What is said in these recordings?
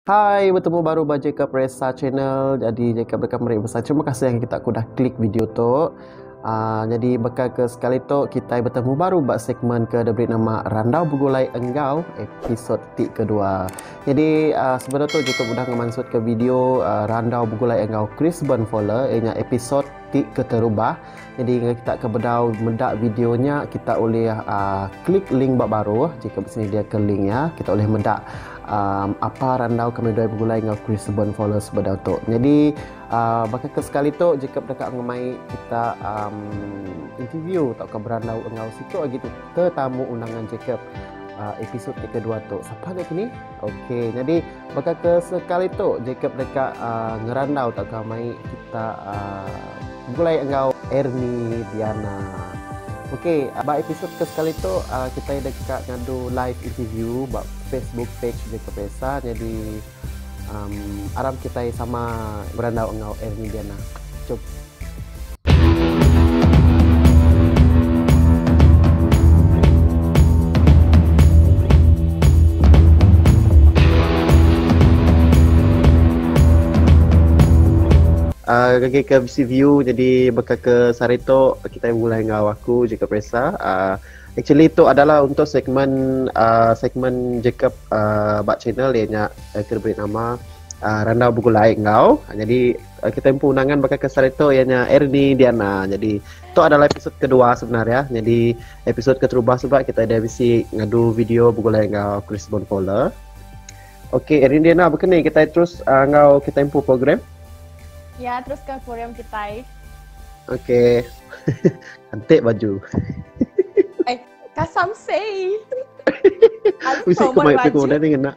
Hai betemu baru ba Jacob Resa channel jadi Jacob deka meri besar terima kasih yang kita ku dah klik video tu Uh, jadi beka ke sekali tu kita bertemu baru ba segmen ke ada beri nama Randau Begulai Enggau episod ti kedua. Jadi uh, sebelum tu jika sudah ngemansut ke video uh, Randau Begulai Enggau Chris Burnfoller ianya episod ti keterubah Jadi enggau kita ke bedau meda video nya kita ulih uh, klik link ba baru jika bersedia ke link ya kita ulih meda um, apa randau kami dua begulai enggau Chris Bon Fowler sebedau tu. Jadi uh, baka ke sekali tu jika deka ngemai kita um, interview atau ke berandau enggau siku lagi tu tetamu undangan Jacob uh, episod ke kedua tu. Siapa nak kini? Okey. Jadi Baka ke sekali tu Jacob deka uh, ngerandau tauka mai kita uh, begulai enggau Erni Diana. Okey, uh, ba episod ke sekali tu uh, kita deka ngadu live interview ba Facebook page Jacob Esa jadi um, aram kita sama berandau enggau Erni Diana. Jom. Aaa ngagai ke bisi view jadi baka ke sehari tu kitai bebulai enggau aku Jacob Ressa aaa actually tu adalah untuk segmen aaa segmen Jacob aaa ba channel iya nya ke diberi nama aaa Randau Begulai Enggau jadi Kita empu undangan baka ke sehari tu iya nya Erni Diana. Jadi tu adalah episod kedua sebenar ya. Jadi episod keterubah tu pula kita ada bisi ngadu video begulai enggau Chris Bonfola. Okey Erni Diana bekeni kita terus uh, enggau kita empu program. Ya, terus ke program kita. Okey. Antik baju. Ay, kasam say. Bisa kemai pergi kemana ni nak?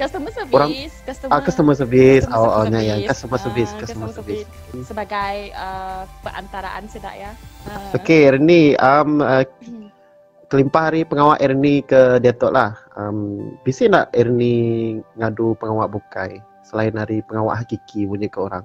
Customer service, orang, customer, uh, customer service, customer oh, oh, service, ya, ya, customer service, uh, customer, service. service. Sebagai uh, perantaraan sedak ya. Uh. Okey, Ernie, um, uh, kelimpah hari pengawa Ernie ke Datuk lah. Um, bisa nak Ernie ngadu pengawa bukai selain hari pengawa hakiki punya ke orang?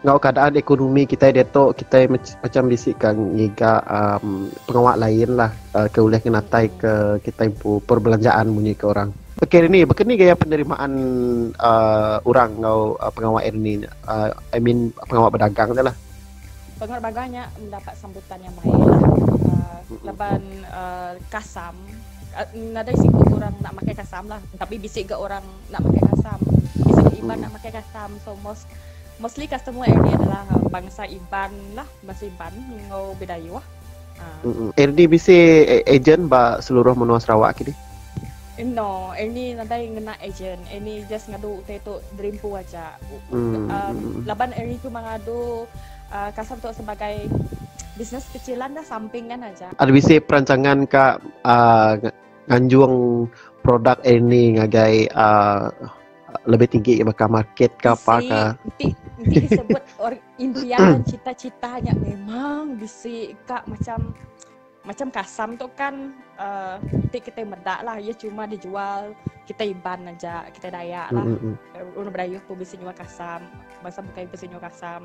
Enggau keadaan ekonomi kitai diatu kitai macam bisi ka ngiga um, pengawa lain lah uh, ke ulih ngenatai ke kitai pu perbelanjaan munyi ke orang. Okey ini baka ni gaya penerimaan uh, orang enggau uh, pengawa ini uh, I mean pengawa berdagang dia lah. Pengawa berdagang nya mendapat sambutan yang baik lah. Uh, laban uh, kasam uh, nadai siku orang nak makai kasam lah tapi bisi ga orang nak makai kasam. Bisi ga iban nak makai kasam so most Mostly customer RD adalah uh, bangsa Iban lah, bangsa Iban enggau Bidayuh. Uh. RD bisi agent ba seluruh menua Sarawak kini. Eh, no, ini nadai ngena agent. Ini just ngadu utai tu derimpu aja. Hmm. Um, laban ini tu mengadu uh, kasar tu sebagai bisnes kecilan dah sampingan aja. Ada bisi perancangan ke uh, nganjung produk ini ngagai uh, lebih tinggi baka market ke apa ke. Ti ti sebut or impian dan cita-cita nya memang bisi ka macam macam kasam tu kan uh, ti kita medak lah ia cuma dijual kita iban aja kita dayak lah mm-hmm. orang berdaya pun bisa jual kasam masa bukan bisa jual kasam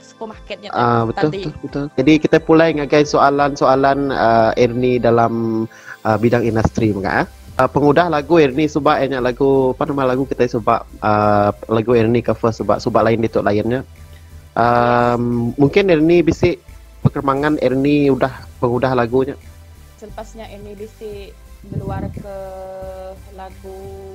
supermarket nya uh, betul, tadi. Betul, betul. Jadi kita pulai ngagai soalan-soalan uh, Erni dalam uh, bidang industri mega. Eh? Uh, pengudah lagu Erni suba eh, nya lagu apa nama lagu kita suba uh, lagu Erni cover suba suba lain ditu lainnya. Um, mungkin Erni bisi perkembangan Erni udah pengudah lagunya. Selepasnya Erni bisi keluar ke lagu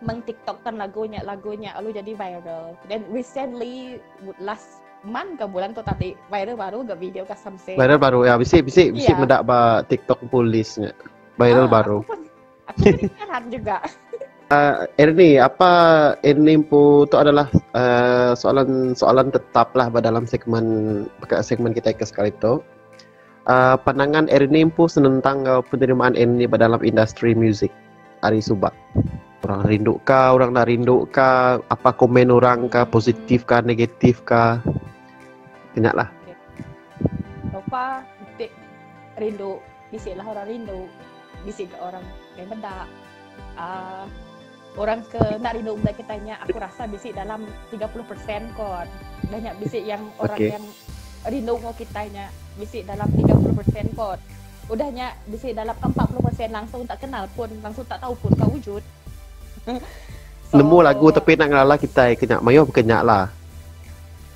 Meng tiktok kan lagu nya lagu nya lalu jadi viral. Then recently last man ke bulan tu tadi viral baru ke video ke samse. Viral baru ya bisi bisi bisi yeah. meda ba tiktok polis nya. Viral ah, baru. Aku pun aku pun heran juga. Uh, Ernie, apa Ernie Empu itu adalah soalan-soalan eh, uh, tetap lah dalam segmen segmen kita ke sekali itu. Pandangan Ernie empu senentang enggau penerimaan Ernie ba dalam industri muzik ari suba? Orang rindu ka, orang enda rindu ka, apa komen orang ka, positif ka, negatif ka. Ti nya lah. So far, ti rindu, bisi lah orang rindu. Bisi gak orang meda. Aaa. Orang ke nak rindu benda kita nya aku rasa bisi dalam 30% kot. Dah nya bisi yang orang okay. yang rindu ngau kita nya bisi dalam 30% kot. Udah nya bisi dalam 40% langsung tak kenal pun, langsung tak tahu pun kau wujud. so, Nemu lagu tapi nak ngelala kita kena mayuh kena lah.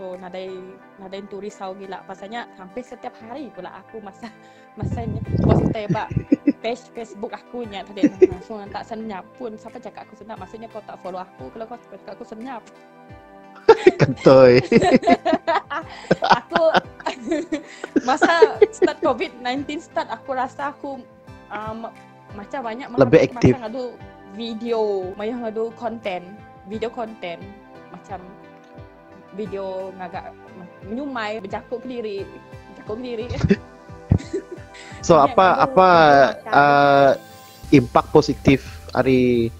So nadai nadai entu risau gila pasal nya hampir setiap hari pula aku masa masa nya buat sertai ba page Facebook aku nya tadi langsung tak senyap pun siapa cakap aku senyap maksudnya kau tak follow aku kalau kau cakap aku senyap Kentoi. aku masa start COVID-19 start aku rasa aku Um, macam banyak mah lebih aktif macam ngadu video maya ngadu konten video konten macam video ngagak menyumai berjaku kediri berjaku kediri so Ini apa apa uh, impak positif hari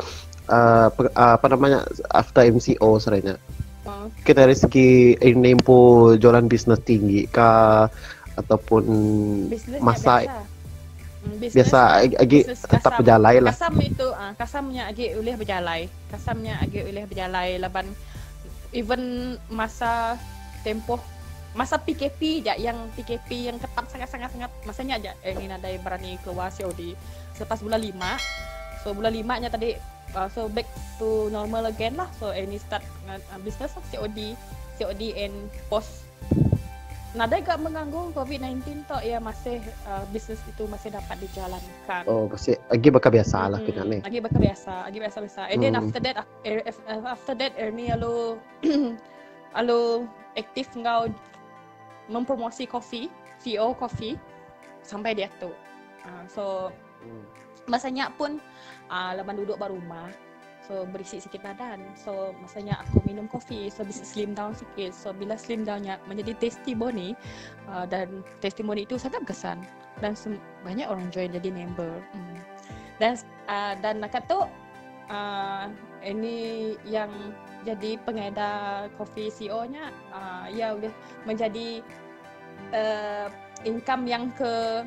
uh, uh, apa namanya after MCO sebenarnya uh. mungkin dari segi ini pun jualan bisnes tinggi kah ataupun masa biasa agi tetap bejalai lah. Kasam itu, uh, kasam nya agi ulih bejalai. Kasam nya agi ulih bejalai laban even masa tempoh masa PKP ja yang PKP yang ketat sangat-sangat sangat masa nya ja eh, ni nadai berani keluar COD selepas bulan 5 so bulan 5 nya tadi uh, so back to normal again lah so any start uh, business lah COD COD and post Nadai ga menganggung covid sembilan belas tu iya masih bisnes ditu masih dapat dijalankan. Oh masih agi baka biasa lah hmm, kena ni. Agi baka biasa, agi biasa biasa. And hmm. then after that er, after that Ernie lalu lalu aktif enggau mempromosi kopi, CEO kopi sampai dia tu. Uh, so Masa nya pun uh, laban duduk ba rumah so berisi sikit badan so masa nya aku minum kopi so bisa slim down sikit so bila slim down nya menjadi testimoni uh, dan testimoni itu sangat berkesan dan banyak orang join jadi member hmm. dan uh, dan nak tu uh, ini yang jadi pengedar kopi CEO nya uh, ya boleh menjadi uh, income yang ke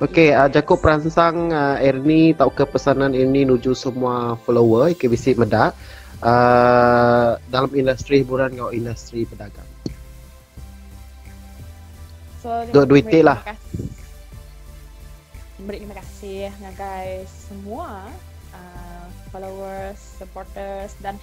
Ok ah jaku peransang ah Erni tauka pesanan Erni nuju semua follower ke bisi meda ah dalam industri hiburan enggau industri bedagang. So, Dua duit ti lah. Beri terima kasih ngagai semua uh, followers, supporters dan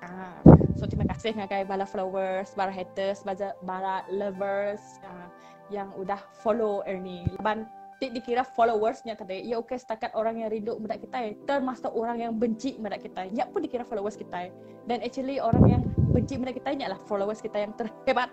Ah, so terima kasih ngagai bala followers, bala haters, bala, bala lovers uh, yang udah follow Ernie. Laban ti dikira followersnya tadi, ia okey setakat orang yang rindu meda kita, termasuk orang yang benci meda kita. Ia pun dikira followers kita. Dan actually orang yang benci meda kita nya lah followers kita yang terhebat.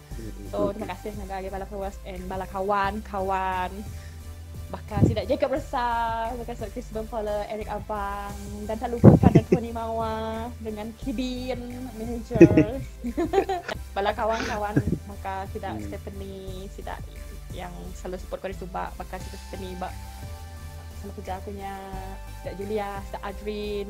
So terima kasih ngagai agi bala followers and bala kawan-kawan bakal sida Jacob Resah, bakal sida Chris Bempala, Eric Abang dan tak lupa kan ada Tony Mawa dengan Kibin manager. bala kawan-kawan bakal sida hmm. Stephanie, sida yang selalu support kau di Subak, bakal sida Stephanie bak sama kerja aku nya, sida Julia, sida Adrin,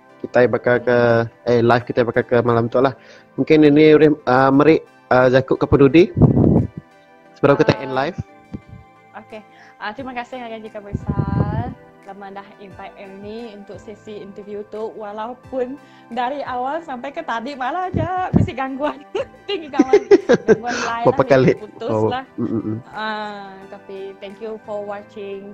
Kita baka ke eh live kita baka ke malam tu lah. Mungkin ini udah uh, meri uh, jaku ke pedudi. Sebelum kita end live. Okay. Uh, ah, terima kasih Haji Kabisar lama dah invite Ernie untuk sesi interview tu walaupun dari awal sampai ke tadi malah aja mesti gangguan tinggi kawan gangguan lain lah, putus oh. lah uh, tapi thank you for watching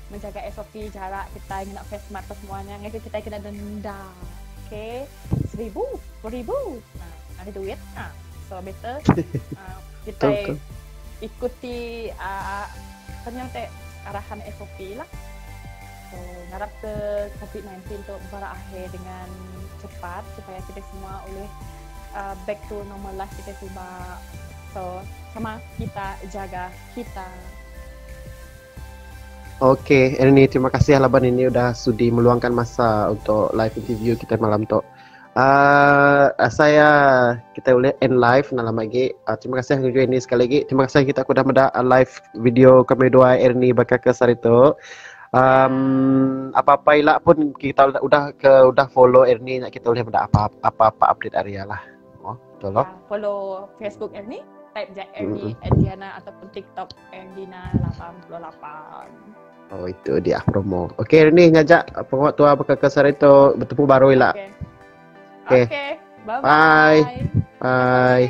Menjaga SOP jarak kitai ngena face mask apa semua nya ngagai kitai kena denda. Okay. Seribu. Sepuluh ribu. Ha. Ada duit. Ha. So, better. Uh, kitai ikuti uh, apa ni orang arahan SOP lah. So, harap ke COVID-19 tu berakhir dengan cepat supaya kita semua boleh uh, back to normal life kita semua. So, sama kita jaga kita. Ok Erni terima kasih laban ini udah sudi meluangkan masa untuk live interview kita malam tu. Uh, ah, saya ah, kita boleh end live nak lama lagi. Uh, terima kasih juga ini sekali lagi. Terima kasih kita aku dah meda live video kami dua Erni bakal ke sehari tu. Um, apa-apa ilah pun kita udah ke udah follow Erni nak kita boleh meda apa-apa update hari lah. Oh, betul lah. Follow Facebook Erni, type je Erni mm-hmm. Adriana ataupun TikTok Endina lapan puluh lapan. Oh itu dia promo. Okey Rini ngajak pengawa tua baka ke sehari tu bertemu baru ila. Okey. Okey. Okay. Bye bye. Bye. bye.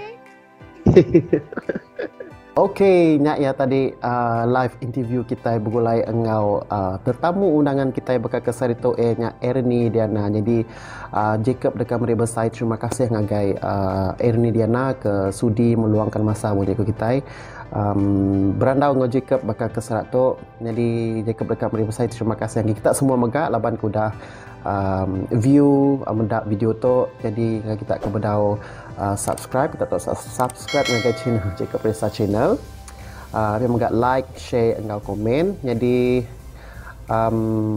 Okey, nya ya tadi uh, live interview kita begulai enggau uh, tetamu undangan kita baka ke sehari tu eh nya Ernie Diana. Jadi uh, Jacob dekat meri besai terima kasih ngagai uh, Ernie Diana ke sudi meluangkan masa menjadi kita. Berandau enggau Jacob baka ke serat tu, nyadi Jacob deka meri besai terima kasih ngagai kita semua mega laban ke udah view meda video tu. Nyadi ngagai kita ke bedau subscribe, kita tau subscribe ngagai channel Jacob Ressa Channel. Ari mega like, share enggau komen. Nyadi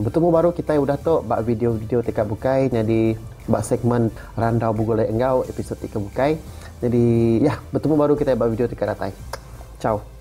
betemu baru kitai udah tu ba video-video ti ka bukai. Nyadi ba segmen Randau Begulai enggau episod ti ke bukai. Jadi ya bertemu baru kita ba video teka datai. Ciao.